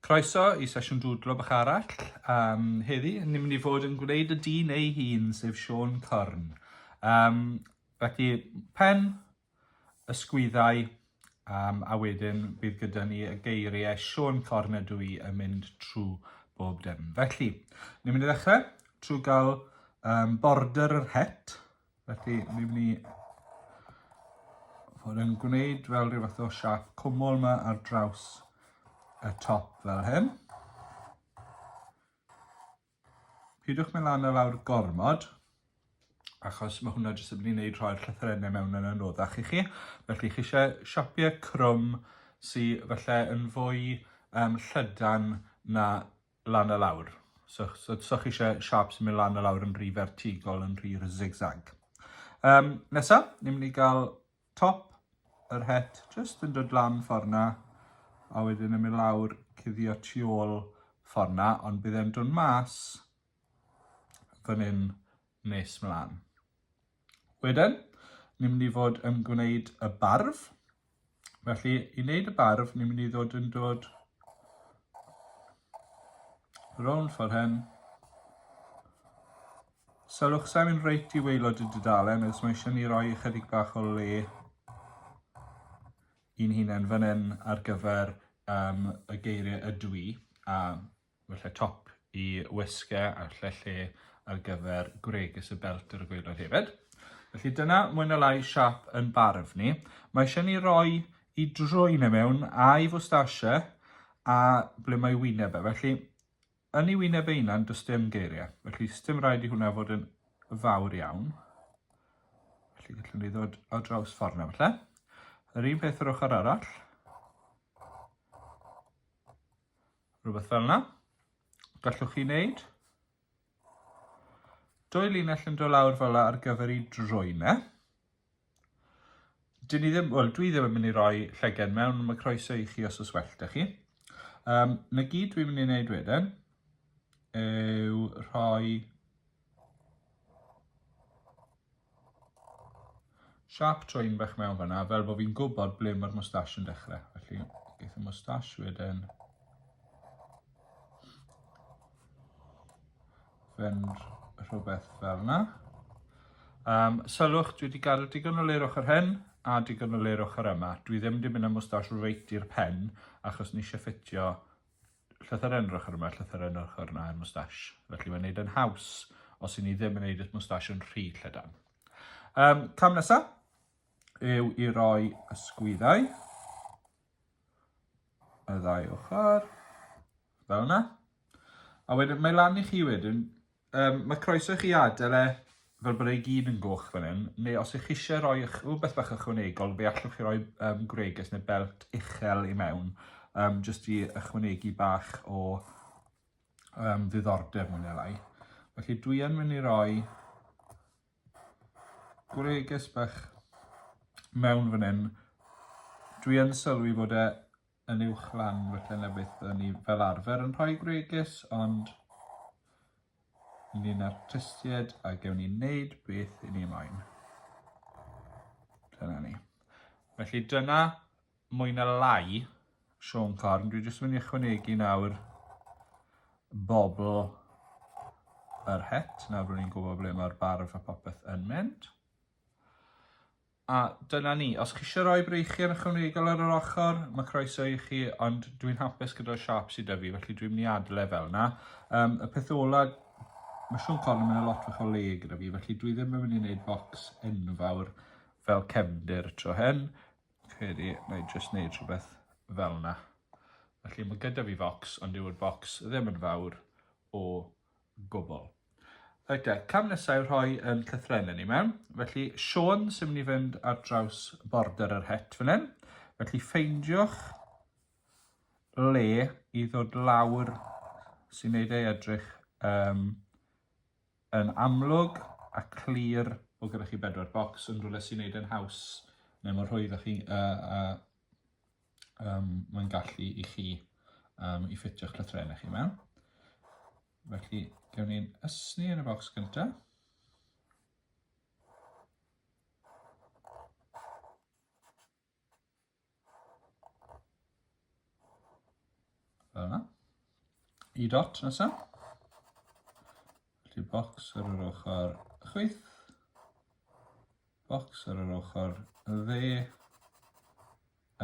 Croeso i sesiwn dwdlo bach arall. Um, heddi, ni'n mynd i fod yn gwneud y dyn ei hun, sef Sean Corn. Um, felly, pen, ysgwyddau um, a wedyn bydd gyda ni y geiriau Siôn Corn ydw i yn mynd trwy bob dim. Felly, ni'n mynd i ddechrau trwy gael um, border yr het. Felly, ni'n mynd i fod yn gwneud fel rhyw fath o siap cwmol yma ar draws y top fel hyn. Peidiwch mynd lan a lawr gormod, achos mae hwnna jyst yn mynd i wneud rhoi'r llythyrennau mewn yn anoddach i chi. Felly chi eisiau siapiau crwm sydd felly yn fwy um, llydan na lan a lawr. So, so, so chi eisiau siap sy'n mynd lan a lawr yn rhy fertigol, yn rhy zigzag. Um, nesa, ni'n mynd i gael Top yr het jyst yn dod lan ffordd 'na a wedyn yn mynd lawr cuddio tu ôl ffordd 'na ond bydd e'n dod mas fan hyn nes mlaen. Wedyn, ni'n mynd i fod yn gwneud y barf. Felly, i wneud y barf, ni'n mynd i ddod yn dod rownd ffordd hyn Sylwch, sa'n mynd reit i waelod y dudalen, achos mae eisiau ni roi ychydig bach o le i'n hunain fan hyn ar gyfer um, y geiriau ydw i, a felly top i wisge a lle lle ar gyfer gwregys y belt ar y gweilod hefyd. Felly dyna mwy na lai siap yn barf ni. Mae eisiau ni roi i drwy na e mewn a'i fwstasiau a ble mae wyneb e. Felly Yn ei wyneb ei hunan, does dim geiriau, felly sdim rhaid i hwnna fod yn fawr iawn. Felly gallwn ni ddod o draws ffordd na falle. Yr un peth yr ochr arall. Rhywbeth fel yna. Gallwch chi wneud dwy linell yn dod lawr fel yna ar gyfer ei drwyne. Dyn ni ddim, wel, dwi ddim yn mynd i roi llyged mewn, mae croeso i chi os oes well da chi. Um, na gyd dwi'n mynd i wneud wedyn yw rhoi siap trwy'n bach mewn fanna, fel bod fi'n gwybod ble mae'r moustache yn dechrau. Felly, geith y moustache wedyn Fynd rhywbeth fel yna. Um, sylwch, dwi wedi gadw digon o leir ochr hyn a digon o leir ochr yma. Dwi ddim wedi mynd â mwstash reit i'r pen achos ni eisiau ffitio llythyr yn yr ochr yma, llythyr yn yr ochr yna i'r mwstash. Felly mae'n neud yn haws os i ni ddim yn neud y mwstash yn rhy llydan. Um, cam nesaf yw i roi ysgwyddau y ddau ochr. Fel yna. A wedyn, mae lan i chi wedyn. Um, mae croeso i chi adael e fel bod ei gyd yn goch fan hyn, neu os ych chi eisiau rhoi rhywbeth bach ychwanegol, fe allwch chi roi um, gwreges neu belt uchel i mewn, um, jyst i ychwanegu bach o um, ddiddordeb mwyn elai. Felly dwi yn mynd i roi gwreges bach mewn fan hyn. Dwi yn sylwi bod e yn uwchlan felly na beth o'n i fel arfer yn rhoi gwregys ond ni'n artistied a gewn ni wneud beth i ni moyn. Dyna ni. Felly dyna mwy na lai Sean Corn. Dwi jyst yn mynd i ychwanegu nawr bobl yr het. Nawr rwy'n ni'n gwybod ble mae'r barf a popeth yn mynd. A dyna ni. Os chi eisiau rhoi breichiau ychwanegol ar yr ochr, mae croeso i chi, ond dwi'n hapus gyda'r siap sydd 'da fi, felly dwi'n mynd i adle e fel 'na. Um, y peth ola, mae Siôn Corn yn mynd â lot fach o le gyda fi, felly dwi ddim yn mynd i wneud bocs enfawr fel cefndir tro hyn. Credu, na i jyst wneud rhywbeth fel 'na. Felly mae gyda fi focs, ond yw'r bocs ddim yn fawr o gwbl. Reit e, cam nesa yw rhoi yn llythrenau ni mewn. Felly, Siôn sy'n mynd i fynd ar draws border yr het fan hyn. Felly, ffeindiwch le i ddod lawr sy'n neud ei edrych um, yn amlwg a clir o gyda chi bedwar bocs yn rhywle sy'n neud yn haws neu mor rhwydd â chi uh, uh, um, mae'n gallu i chi um, i ffitio'ch llythrennau chi mewn. Felly, gewn ni'n ysni yn y bocs gyntaf. Fel yna. I dot nesaf. Felly bocs ar yr ochr chwyth. bocs ar yr ochr dde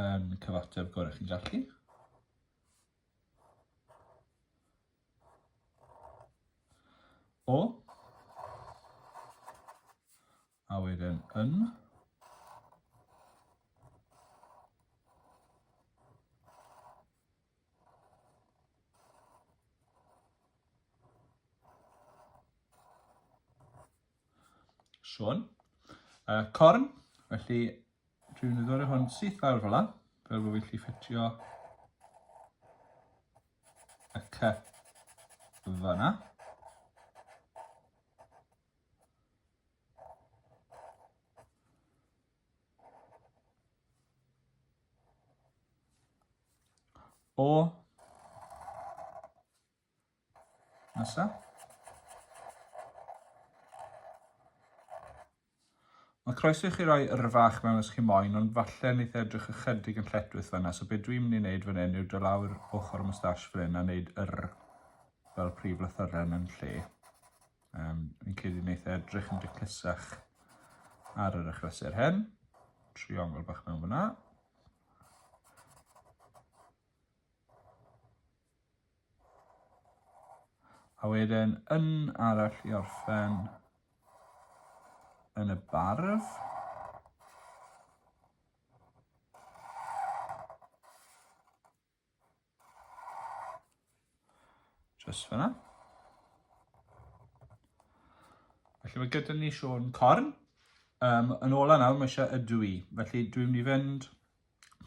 yn cyfateb gorau chi'n gallu. O. A wedyn yn. Siôn. Uh, corn, felly dwi'n mynd i ddod hwn syth lawr fel la, fel bod fi'n lli ffitio y cup fanna. O Nesa. Mae croeso i chi roi yrfa a'ch mewn os chi moyn, ond falle neith e edrych ychydig yn lletwith fanna, so be dwi'n mynd i wneud fan hyn yw do lawr ochr y moustache fan hyn a wneud yr fel prif lythyren yn lle. Um, fi'n credu neith e edrych yn diclusach ar yr achlysur hyn. Triongl bach mewn fanna. A wedyn un arall i orffen yn y barf. Just fyna. Felly mae gyda ni Siôn Corn. Um, yn ola nawr, mae eisiau ydw i. Felly dwi'n mynd i fynd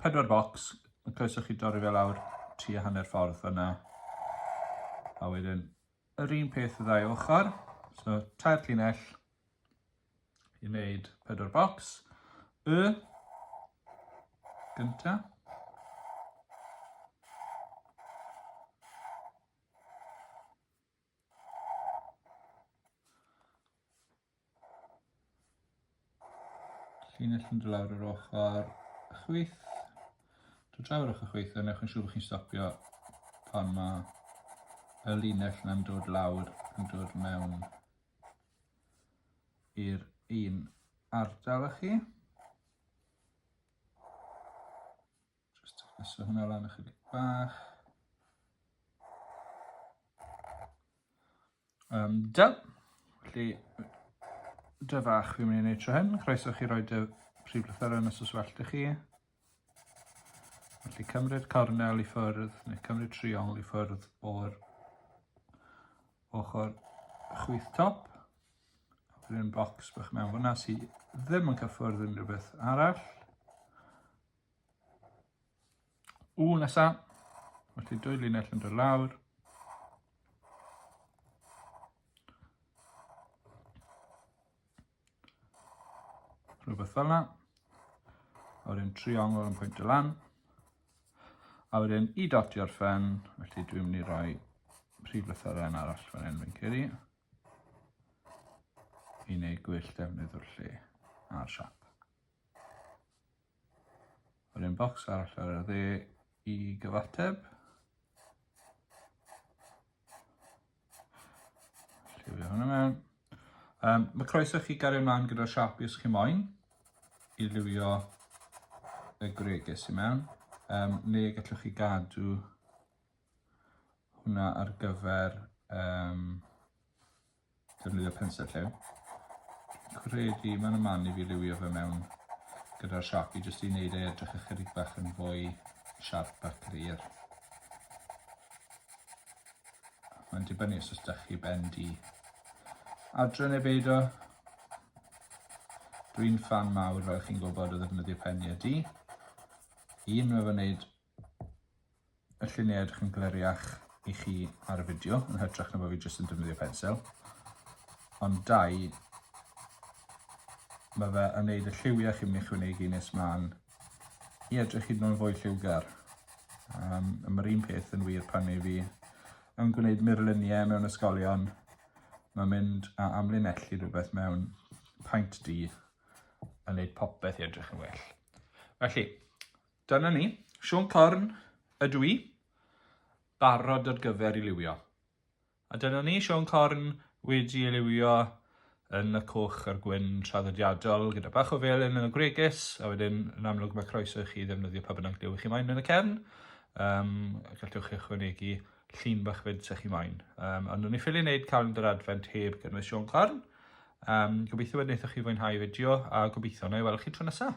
pedwar bocs, y croeso chi dorri fe lawr tua hanner ffordd fyna. A wedyn, yr un peth y ddau ochr, so tair llinell i wneud pedwar bocs. Y gynta. Llinell yn dod lawr yr ochr chwith. Dod draw yr ochr chwith a newch yn siŵr bod chi'n stopio pan mae y linell yna'n dod lawr yn dod mewn i'r un ardal â chi. Just taflesu hwnna lan ychydig bach. Um, da. Felly, dy fach fi'n mynd i wneud tro hyn. Croeso chi roi dy prif lythyr yn y soswellt i chi. Felly cymryd cornel i ffwrdd, neu cymryd triongl i ffwrdd o'r ochr chwyth top. Rwy'n bocs bych mewn fyna sydd ddim yn cyffwrdd unrhyw beth arall. Ww, nesa. Mae ti dwy linell yn dod lawr. Rhywbeth fel yna. A wedyn triongl yn pwynt y lan. A wedyn i dotio'r ffen, felly dwi'n mynd i roi prif lythyren arall fan hyn fi'n ceri. I wneud gwyll defnydd o'r lle a'r siap. Yr un bocs arall ar y dde i gyfateb. Lliwio hwnna mewn. Um, mae croeso chi gario ymlaen gyda'r siapi os chi moyn i liwio y gwreges i mewn. Um, neu gallwch chi gadw hwnna ar gyfer um, defnyddio pensel lliw. Credu mae'n y man i fi liwio fe mewn gyda'r Sharpie jyst i wneud ei edrych ychydig bach yn fwy siarp a glir. Mae'n dibynnu os ydych chi ben di. Adre neu beido, dwi'n fan mawr fel chi'n gwybod o ddefnyddio peniau di. Un mae fy wneud y lluniau edrych yn gleriach i chi ar y fideo, yn hytrach na bod fi jyst yn defnyddio pensel. Ond dau, mae fe yn neud y lliwiau chi'n mynd i chwynegu nes mlaen i edrych hyd yn oed fwy lliwgar. Um, mae'r un peth yn wir pan ei fi yn gwneud murluniau mewn ysgolion. Mae mynd a amlinellu rhywbeth mewn paint di yn neud popeth i edrych yn well. Felly, Dyna ni, Siôn Corn ydw i, barod ar gyfer i liwio. A dyna ni, Siôn Corn wedi ei liwio yn y coch a'r gwyn traddodiadol gyda bach o felyn yn y gwregys a wedyn yn amlwg mae croeso i chi ddefnyddio pa bynnag liw chi moyn yn y cefn. Um, gallwch chi ychwanegu llun bach fyd sy'ch chi moyn. Um, ond nhw'n ei ffili wneud calendar adfent heb gynnwys Siôn Corn. Um, gobeithio bod wnaethoch chi fwynhau fideo a gobeithio na i weld chi tro nesaf.